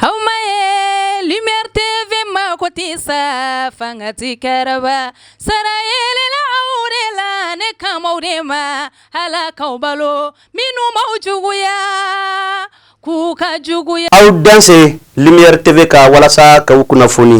aw ma ye lumière TV mago tɛ sa fanga ti karaba sara yelela aw de la ne kan b'aw de ma Ala k'aw balo minnu b'aw juguya k'u ka juguya aw dansɛ lumière TV kan walasa k'aw kunnafoni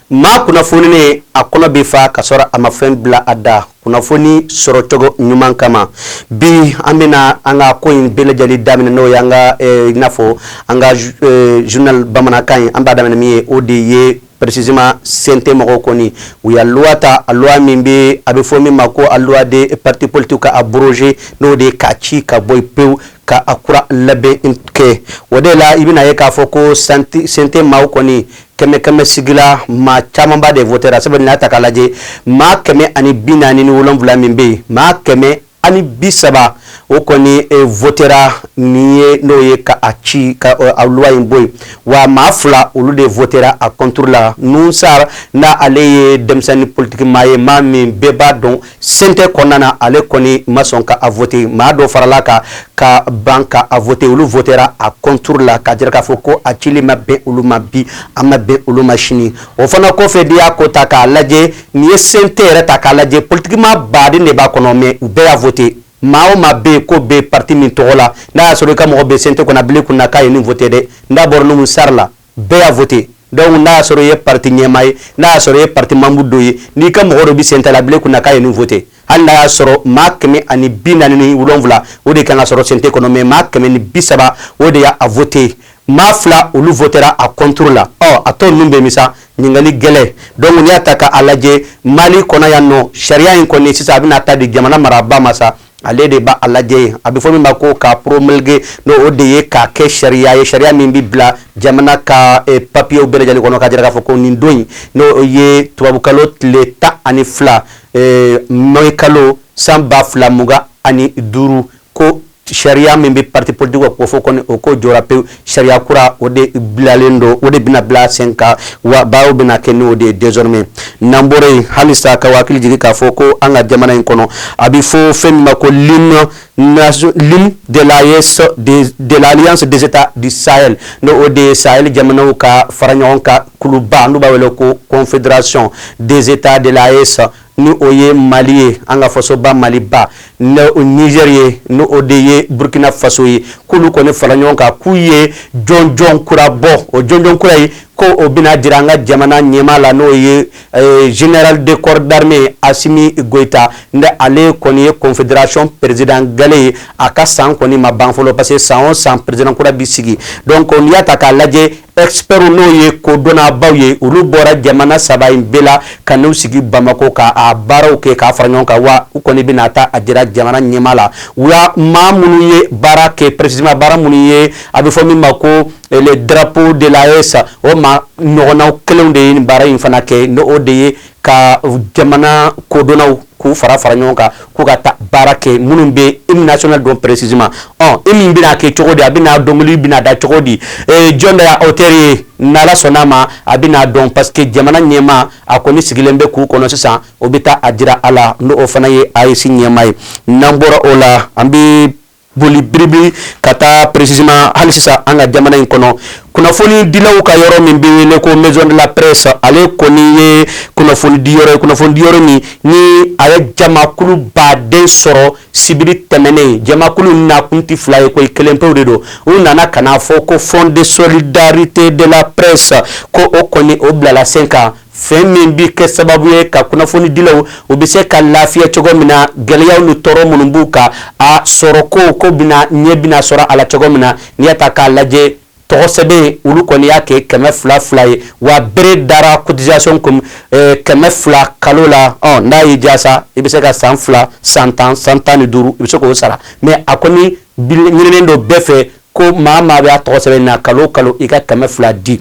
maa kunnafoninen a kɔnɔ bɛ fa ka sɔrɔ a ma fɛn bila a da. kunnafoni sɔrɔcogo ɲuman kama bi an bɛna an ka ko in bɛɛ lajɛlen daminɛ n'o ye an ka eh, i n'a fɔ an ka eh, journal bamanankan ye an b'a daminɛ min ye o de ye précisément CNT mɔgɔw kɔni u y'a loi ta a loi min bɛ a bɛ fɔ min ma ko a loi de parti politique ka abroger n'o de ye k'a ci ka bɔ yen pewu ka a kura labɛn kɛ o de la i bɛna ye k'a fɔ ko CNT maaw kɔni kɛmɛ kɛmɛ sigila maa camanba de votera sabu n'a ta k'a lajɛ maa kɛmɛ ani bi naani ni wolonwula min bɛ yen maa kɛmɛ ani bi saba o kɔni e, votera nin ye n'o ye ka a ci ka a loi in bɔ yen wa maa fila olu de votera a contre la Nouhoum Sarr n'ale ye denmisɛnnin politiki maa ye maa min bɛɛ b'a dɔn CNT kɔnɔna ale kɔni ma sɔn ka a vote maa dɔ farala a kan ka ban ka a vote olu votera a contre la ka jira k'a fɔ ko a cili ma bɛn olu ma bi a ma bɛn olu ma sini o fana kɔfɛ n'i y'a ko ta k'a lajɛ n'i ye CNT yɛrɛ ta k'a lajɛ politiki maa baden de b'a kɔnɔ mais u bɛɛ y'a vote maa o maa bɛ yen ko bɛ parti min tɔgɔ la n'a y'a sɔrɔ i ka mɔgɔ bɛ CNT kɔnɔ bilen kun na k'a ye nin vote dɛ n'a bɔra Nouhoum Sarr la bɛɛ y'a vote donc n'a y'a sɔrɔ i ye parti ɲɛmaa ye n'a y'a sɔrɔ i ye parti membre dɔ ye n'i ka mɔgɔ dɔ bɛ CNT la bile kunna k'a ye nin vote hali n'a y'a sɔrɔ maa kɛmɛ ani bi naani ni wolonwula o de kan ka sɔrɔ CNT kɔnɔ mais maa kɛmɛ ni bi saba o de y'a a vote maa fila olu votera a contre la ɔ a tɔ ninnu bɛ min sa ɲininkali gɛlɛn donc n'i y'a ta ka a lajɛ Mali kɔnɔ yan nɔ sariya in kɔni sisan a bɛna taa di jamana marabaa ma sa ale de b'a lajɛ ye a bɛ fɔ min ma ko ka promulguer n' o de ye k'a kɛ sariya ye sariya min bɛ bila jamana ka eh, papiyew bɛɛ lajɛlen kɔnɔ ka jira k'a fɔ ko nin don in n'o ye tubabukalo tile tan ani fila eh, mai kalo san ba fila mugan ani duuru ko sariya min bɛ parti politique ka kofɔ kɔni o ko jɔra pewu sariya kura o de bilalen don o de bɛna bila sen kan wa baaraw bɛna kɛ n'o de ye désormais n'an bɔra yen halisa k'aw hakili jigin k'a fɔ ko an ka jamana in kɔnɔ a bɛ fɔ fɛn min ma ko l'hymne l'hymne de l'AES de l'alliance des états du Sahel n'o o de ye Sahel jamanaw ka fara ɲɔgɔn kan kuluba n'u b'a wele ko confédération des états de l'AES ni o ye mali ye an ka fasoba maliba niger ye n o de ye burukina faso ye k'olu kɔni fara ɲɔgɔn kan k'u ye jɔnjɔn kura bɔ o jɔnjɔn kura in ko o bɛna jira an ka jamana ɲɛmaa la n'o ye eh, général de corps d'armée asimi goyita n ale kɔni ye confederation président galɛ ye a ka san kɔni ma ban fɔlɔ parce que san o san président kura bi sigi donc n'i y'a ta k'a lajɛ expert n'o ye kodɔnnabaw ye olu bɔra jamana saba in bɛɛ la ka n'u sigi bamakɔ k'a baaraw kɛ k'a fara ɲɔgɔn kan wa u kɔni bɛna taa a jira jamana ɲɛmaa la wa maa minnu ye baara kɛ précisément baara minnu ye a bɛ fɔ min ma ko le drapeau de l'AES o maa ɲɔgɔnna kelenw de ye baara in fana kɛ n'o de ye ka jamana kodɔnnaw k'u fara fara ɲɔgɔn kan k'u ka taa baara kɛ minnu bɛ hymne national dɔn précisément ɔ hymne bɛna kɛ cogo di a bɛna dɔnkili bɛna da cogo di jɔn de y'a auteur ye n'Ala sɔnn'a ma a bɛna dɔn parce que jamana ɲɛmaa a kɔni sigilen bɛ k'u kɔnɔ sisan o bɛ taa a jira a la n'o fana ye AES ɲɛmaa ye n'an bɔra o la an bɛ boli biribi ka taa précisément hali sisan an ka jamana in kɔnɔ kunnafoni dilaw ka yɔrɔ min bɛ wele ko maison de la presse ale kɔni ye kunnafoni di yɔrɔ ye kunnafoni di yɔrɔ min ni a ye jamakuluba de sɔrɔ sibiri tɛmɛnen jamakulu na kun tɛ fila ye ko kelen pewu de don u nana ka n'a fɔ ko fond de solidarité de la presse ko o kɔni o bilala sen kan fɛn min bɛ kɛ sababu ye ka kunnafoni dilaw u bɛ se ka lafiya cogo min na gɛlɛyaw ni tɔɔrɔ minnu b'u kan a sɔrɔ ko ko bɛna ɲɛ bɛna sɔrɔ a la cogo min na n'i y'a ta k'a lajɛ tɔgɔ sɛbɛn olu kɔni y'a kɛ kɛmɛ fila fila ye wa bere dara cotisation kun eh, kɛmɛ fila kalo la ɔ n'a y'i diya sa i bɛ se ka san fila san tan san tan ni duuru i bɛ se k'o sara mais a kɔni ɲininen don bɛɛ fɛ ko maa maa bɛ a tɔgɔ sɛbɛn na kalo kalo i ka kɛmɛ fila di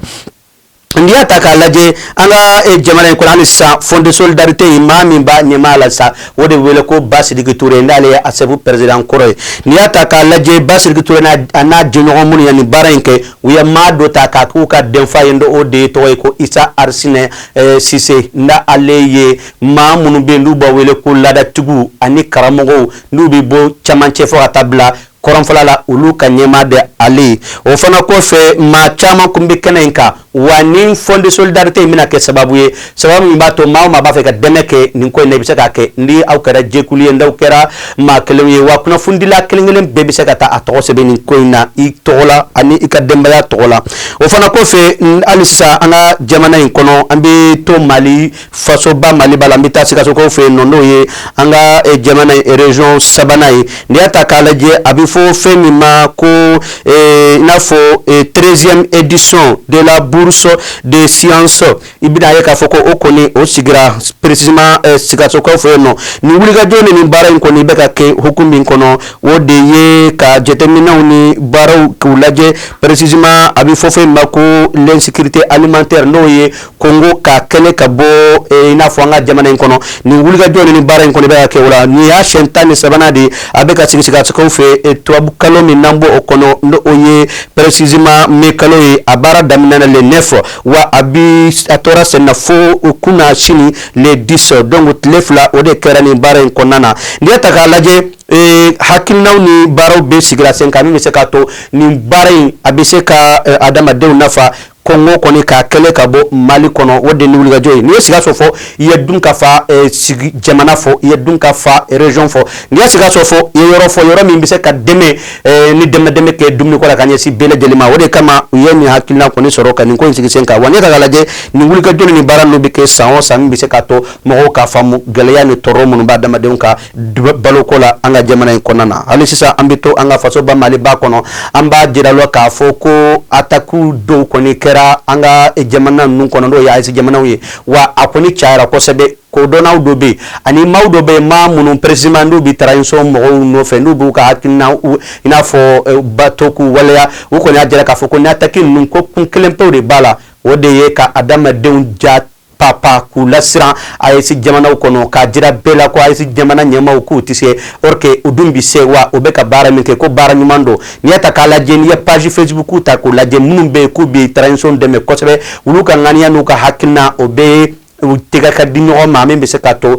n'i y'a ta k'a lajɛ an ka eh, jamana in kɔnɔ hali sisan fond de solidarité in maa min b'a ɲɛmaa la sa o de wele ko basidiki ture n'ale ye ASSEP pɛrɛzidan kɔrɔ ye n'i y'a ta k'a lajɛ basidiki ture a n'a jɛɲɔgɔn minnu ye nin baara in kɛ u ye maa dɔ ta k'a k'u ka denfa ye o de ye tɔgɔ ye ko isa arisina eh, sise n'a ale ye maa minnu bɛ yen n'u b'a wele ko laadatigiw ani karamɔgɔw n'u bɛ bɔ camancɛ fɔ ka taa bila kɔrɔnfala la olu ka ɲɛmaa de ale o fana kɔfɛ maa caman kun bɛ kɛnɛ in kan wa nin fond de solidarité in bɛna kɛ sababu ye sababu min b'a to maa o maa b'a fɛ ka dɛmɛ kɛ nin ko in na i bɛ se k'a kɛ ni aw kɛra jɛkulu ye n'aw kɛra maa kelenw ye wa kunnafonidila kelen kelen bɛɛ bɛ se ka taa a tɔgɔ sɛbɛn nin ko in na i tɔgɔ la ani i ka denbaya tɔgɔ la o fana kɔfɛ halisa an ka jamana in kɔnɔ an bɛ to Mali fasoba maliba la n bɛ taa sikasokaw fɛ yen nɔ n'o ye an ka eh, jamana eh, region sabanan ye n'i y'a ta k'a lajɛ a bɛ fɔ fɛn min ma ko eh, i n'a fɔ treizième édition de la bourse de semences i bɛn'a ye k'a fɔ ko o kɔni o sigira précisément sikasokaw fɛ yen nɔ nin wulikajɔ ni nin baara in kɔni bɛ ka kɛ hukumu min kɔnɔ o de ye ka jateminɛw ni baaraw k'u lajɛ précisément a bɛ fɔ fɛn min ma ko l'insécurité alimentaire n'o ye Kɔngo k'a kɛlɛ ka bɔ i n'a fɔ an ka jamana in kɔnɔ ni wulikajɔ ni baara in kɔni bɛ kɛ la nin y'a siɲɛ tan ni sabanan de a bɛ ka sigi sikaso fɛ e, tubabu kalo min n'an b'o kɔnɔ n'o ye précisément mai kalo ye a baara daminɛna le 9 wa a bi a tora senna fo kunasini le 10 donc tile fila o de kɛra ni baara in kɔnɔna na n'i y'a ta k'a lajɛ Eh, hakilinaw ni baaraw bɛɛ sigira sen kan min bɛ se k'a to nin baara in a bɛ se ka eh, adamadenw nafa Kɔngo kɔni k'a kɛlɛ ka bɔ mali kɔnɔ o de nin wulikajɔ ye n'i ye sikaso fɔ i ye dunkafa eh, sigi jamana fɔ i ye dunkafa région fɔ n'i ye sikaso fɔ i ye yɔrɔ fɔ yɔrɔ min bɛ se ka dɛmɛ eh, ni dɛmɛ dɛmɛ kɛ dumuni ko la ka ɲɛsin bɛɛ lajɛlen ma o de kama u ye nin hakilina kɔni sɔrɔ ka nin ko in sigi sen kan wa ni ka k'a lajɛ nin wulikajɔ ni baara ninnu bɛ kɛ san o san min bɛ se ka to mɔgɔw k'a faamu gɛlɛya ni tɔɔrɔ minnu b'adamadenw kan baloko la an ka jamana in kɔnɔna na hali sisan an bɛ to an ka fasoba maliba kɔnɔ an b'a jira la k'a fɔ ko atakiw dɔw kɔni kɛra an ka jamana ninnu kɔnɔ n'o ye AES jamanaw ye wa a kɔni cayara kosɛbɛ kodɔnnaw dɔ bɛ yen ani maaw dɔ bɛ yen maa minnu précisément n'u bɛ transition mɔgɔw nɔfɛ n'u b'u ka hakilina i n'a fɔ eh, bato k'u waleya u kɔni y'a jira k'a fɔ ko nin ataki ninnu ko kun kelenpew de b'a la o de ye ka adamadenw ja papa k'u lasiran AES jamanaw kɔnɔ k'a jira bɛɛ la ko AES jamana ɲɛmaaw k'u tɛ se or que u dun bi se wa u bɛ ka baara min kɛ ko baara ɲuman don n'i y'a ta k'a lajɛ n'i ye page facebook ta k'u lajɛ minnu bɛ yen k'u bi transition dɛmɛ kosɛbɛ olu ka ŋaniya n'u ka hakilina u bɛɛ tɛgɛ ka di ɲɔgɔn ma min bɛ se ka to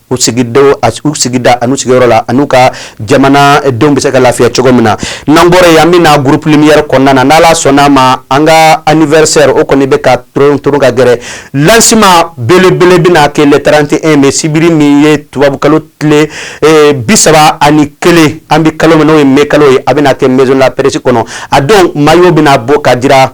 u sigidenw u sigida an'u sigiyɔrɔ la an'u ka jamana denw bɛ se ka lafiya cogo min na n'an bɔra yen an bɛna groupe lumière kɔnɔna na n'Ala sɔnn'a ma an ka anniversaire o kɔni bɛ ka tɛrun ka gɛrɛ lancement belebele bɛna kɛ le 31 mai sibiri min ye tubabukalo tile eh, bi saba ani kelen an bɛ kalo min n'o ye mai kalo ye a bɛna kɛ maison de la presse kɔnɔ a don maillot bɛna bɔ ka jira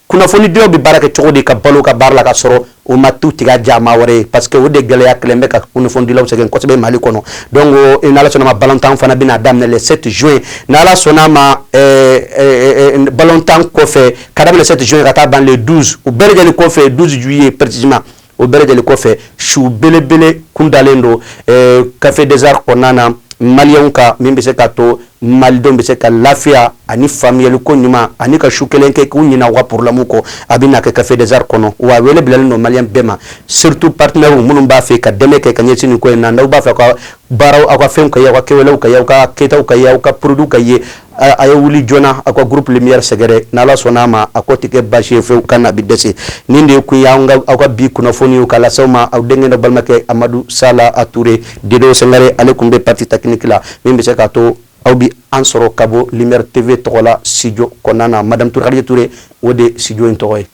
kunnafonidilaw bɛ baara kɛ cogo di ka balo u ka baara la ka sɔrɔ u ma t'u tɛgɛ jan maa wɛrɛ ye parce que o de gɛlɛya kɛlen bɛ ka kunnafonidilaw sɛgɛn kosɛbɛ mali kɔnɔ donc eh, n'ala sɔnna ma balontan fana bɛna daminɛ le 7 juin n'ala sɔnna ma eh, eh, balontan kɔfɛ ka daminɛ le 7 juin ka taa ban le 12 o bɛɛ lajɛlen kɔfɛ 12 juillet précisément o bɛɛ lajɛlen kɔfɛ su belebele kun dalen don eh, café des arts kɔnɔna na maliyɛnw ka min bɛ se ka to malidenw bɛ se ka lafiya ani famille ko ɲuman ani ka su kelen kɛ k'u ɲinɛ u ka problèmew kɔ a bɛna kɛ café des arts kɔnɔ wa wele bilalen don maliyɛn bɛɛ ma surtout partenaires minnu b'a fɛ ka dɛmɛ kɛ ka ɲɛsin nin ko in na n'aw b'a fɛ ka baaraw aw ka fɛnw ka ye aw ka kɛwalew ka ye aw ka kɛtaw ka ye aw ka produits ka ye a ye wuli joona aw ka groupe lumière sɛgɛrɛ n'ala sɔnn'a ma a ko tɛ kɛ baasi ye fɛn kana bi dɛsɛ nin de kun ye aw ka bi kunnafoni ye k'a lase aw ma aw denkɛ n'aw balimakɛ Amadu Sala A Ture Dedo Sangare ale kun bɛ partie technique la min bɛ se k'a to aw bi an sɔrɔ ka bɔ lumière TV tɔgɔ la studio kɔnɔna na madame Ture Khadija Ture o de ye studio in tɔgɔ ye.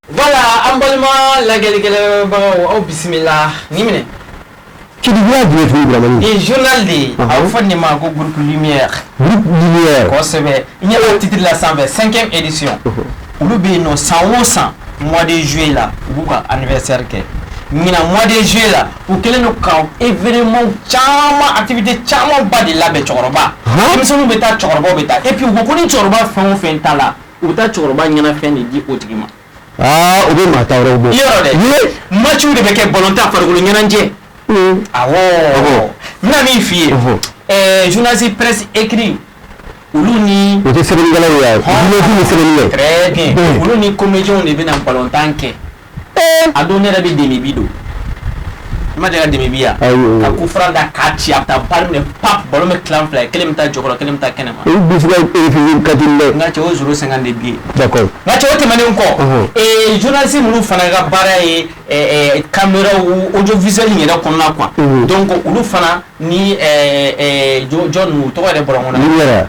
Voilà an balima lajɛlikɛbagaw aw bisimila ni minɛ ki journal de ye fɔ nin ma ko groupe lumière sɛbɛ ɲɛ titre la cinquième édition olu bɛ yen nɔ san o san mois de juillet la u b'u ka anniversaire kɛ ɲinan mois de juillet la u kɛlen don ka événement caman activité caman ba de labɛn cɛkɔrɔba denmisɛnninw bɛ taa cɛkɔrɔba bɛ taa et puis u ko ko ni cɛkɔrɔba fɛn o fɛn ta la u bɛ taa cɛkɔrɔba ɲɛnafɛn de di o tigi ma aa u bɛ maa ta wɛrɛw bɔ yɔrɔ dɛ Ye. matchw de bɛ kɛ ballon tan farikolo ɲɛnajɛ Ee, awɔ Awɔ. n bɛna min f'i ye Ɔhɔ. ɛɛ journaliste presse écrit olu ni o tɛ sɛbɛnnikɛlaw ye journaliste ni sɛbɛnnikɛ très bien Bon. olu ni comédiens de bɛna ballon tan kɛ a don ne yɛrɛ bɛ demi bi don i ma deli ka demi bi ye an ka coup franc da k'a ci a bɛ taa barre minɛ pap ballon bɛ tila fila ye kelen bɛ taa jɔkɔrɔ kelen bɛ taa kɛnɛ ma ka n ka cɛ o zéro cinq de bi n ka cɛ o tɛmɛnen kɔ journaliste minnu fana ka baara ye caméra audiovisuel yɛrɛ kɔnɔna quoi donc olu fana ni jɔn tɔgɔ yɛrɛ bɔra kɔnɔ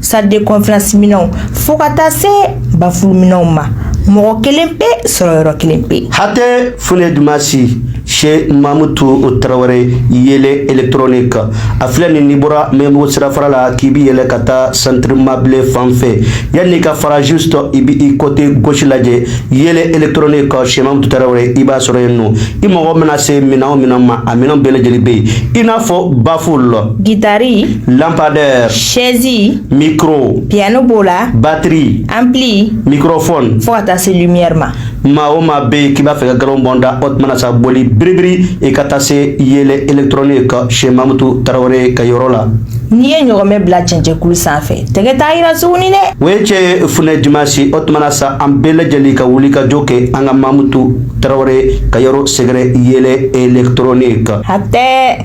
salle de conférence minɛnw fo ka taa se bafuluminɛnw ma mɔgɔ kelen pe sɔrɔ yɔrɔ kelen pe hatɛ funɛ Dumasi chez Mamutu Tarawele yele électronique a filɛ nin n'i bɔra Maɲanbugu sirafara la k'i bi yɛlɛ ka taa centre Mabile fan fɛ yanni i ka fara juste i bi i côté gauche lajɛ yele électronique chez Mamutu Tarawele i b'a sɔrɔ yen nɔ i mago mana se minɛn o minɛn ma a minɛn bɛɛ lajɛlen bɛ yen i n'a fɔ baful Gitari. Lampadaire. Chaise. Micro. Piano b'o la. Batterie. Ampli. Microphone. Fo ka taa se lumière ma. Maa o maa bɛ yen k'i b'a fɛ ka galon bɔ n da o tuma na sa boli biribiri i ka taa se yele électronique chez Mamutu Tarawele ka yɔrɔ la. N'i ye ɲɔgɔmɛ bila cɛncɛnkulu sanfɛ tɛgɛ t'a jira tuguni dɛ. O ye cɛ ye funɛ Dumasi o tuma na sa an bɛɛ lajɛlen ka wuli ka jɔ kɛ an ka Mamutu Tarawele ka yɔrɔ sɛgɛrɛ yele électronique. Hatɛ.